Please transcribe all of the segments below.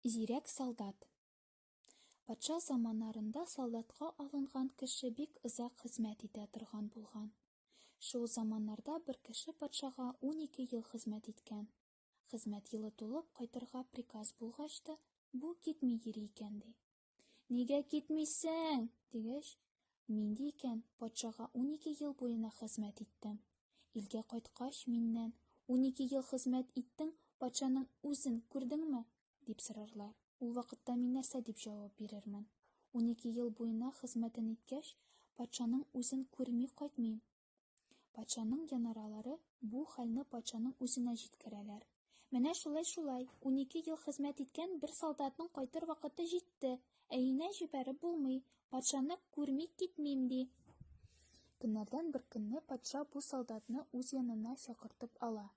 Зирәк солдат. Патша заманнарында солдатка алынган кеше бик озак хезмәт итә торган булган. Шул заманнарда бер кеше патшага 12 ел хезмәт иткән. Хезмәт елы тулып кайтырга приказ булгач та, бу китми йөри икән ди. Нигә китмисең? дигәч, нинди икән, патшага 12 ел буена хезмәт иттем. Илгә кайткач миннән, 12 ел хезмәт иттең, патшаның үзен күрдеңме? дип сорарлар. Ул вакытта мин нәрсә дип җавап бирермен? 12 ел буена хезмәтен иткәч, патшаның үзен күрми кайтмыйм, Патшаның янаралары бу хәлне патшаның үзенә җиткерәләр. Менә шулай-шулай, унике ел хезмәт иткән бер солдатның кайтыр вакыты җитте. Әйенә җибәреп булмый, патшаны күрми китмим, ди. Көннәрдән бер көнне патша бу солдатны үз янына чакыртып ала.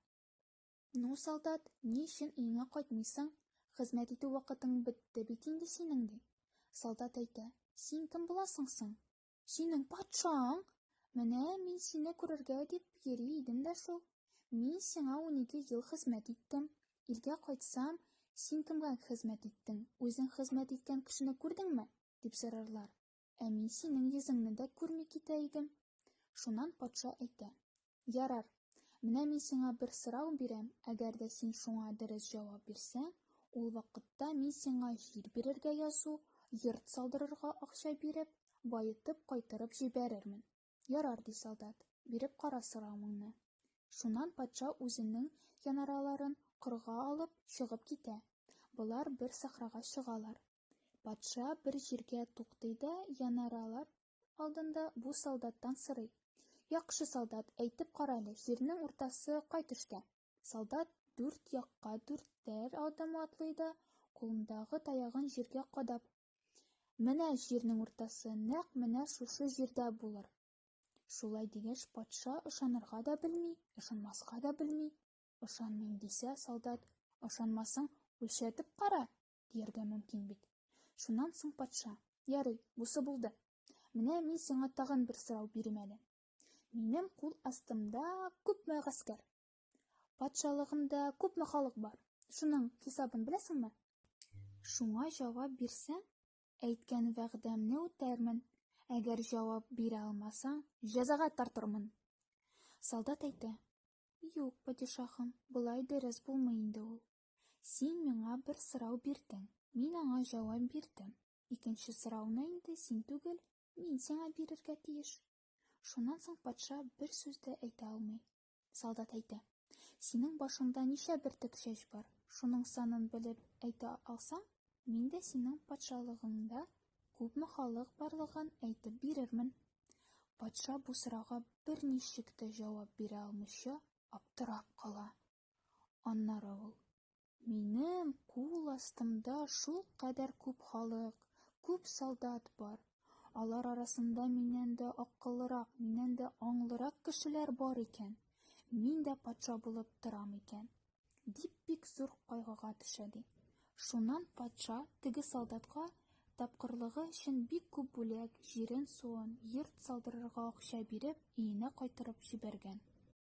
Ну, солдат, ни өчен өеңә кайтмыйсың? Хезмәт итү вакытың бетте бит инде синең, ди. Солдат әйтә, син кем буласың соң? Синең патшаң? Менә мин сине күрергә дип йөри идем дә шул. Мин сиңа унике ел хезмәт иттем. Илгә кайтсам, син кемгә хезмәт иттең, үзең хезмәт иткән кешене күрдеңме? дип сорарлар. Ә мин синең йөзеңне дә күрми китә идем. Шуннан патша әйтә. Ярар. Менә мин сиңа бер сорау бирәм, әгәр дә син шуңа дөрес җавап бирсәң, ул вакытта мин сиңа җир бирергә язу, йорт салдырырга акча биреп, баетып кайтырып җибәрермен. Ярар, ди солдат, биреп кара соравыңны. Шуннан патша үзенең янараларын кырга алып, чыгып китә. Болар бер сахрага чыгалар. Патша бер җиргә туктый да янаралар алдында бу солдаттан сорый. Яхшы солдат, әйтеп кара әле, җирнең уртасы кай төштә? Солдат дүрт якка дүртәр адым атлый да, кулындагы таягын җиргә кадап. Менә җирнең уртасы, нәкъ менә шушы җирдә булыр. Шулай дигәч, патша ышанырга да белми, ышанмаска да белми. Ышанмыйм дисә, солдат, ышанмасаң, үлчәтеп кара, дияргә мөмкин бит. Шуннан соң патша, ярый, бусы булды. Менә мин сиңа тагын бер сорау бирим әле. Минем кул астымда күпме гаскәр? Патшалыгымда күпме халык бар? Шуның хисабын беләсеңме? Шуңа җавап бирсәң, әйткән вәгъдәмне үтәрмен. Әгәр җавап бирә алмасаң, җәзага тартырмын. Солдат әйтә, Юк, падишаһым, болай дөрес булмый инде ул. Син миңа бер сорау бирдең. Мин аңа җавап бирдем. Икенче сорауны инде син түгел, мин сиңа бирергә тиеш. Шуннан соң патша бер сүз дә әйтә алмый. Солдат әйтә, Синең башыңда ничә бөртек чәч бар? Шуның санын белеп әйтә алсаң, мин дә синең патшалыгыңда күпме халык барлыгын әйтеп бирермен. Патша бу сорауга берничек тә җавап бирә алмыйча аптырап кала. Аннары ул, Минем кул астымда шул кадәр күп халык, күп солдат бар. Алар арасында миннән дә акыллырак, миннән дә аңлырак кешеләр бар икән. Мин дә патша булып торам икән. Дип бик зур кайгыга төшә ди. Шуннан патша теге солдатка тапкырлыгы өчен бик күп бүләк, җирен-суын, йорт салдырырга акча биреп, өенә кайтырып җибәргән.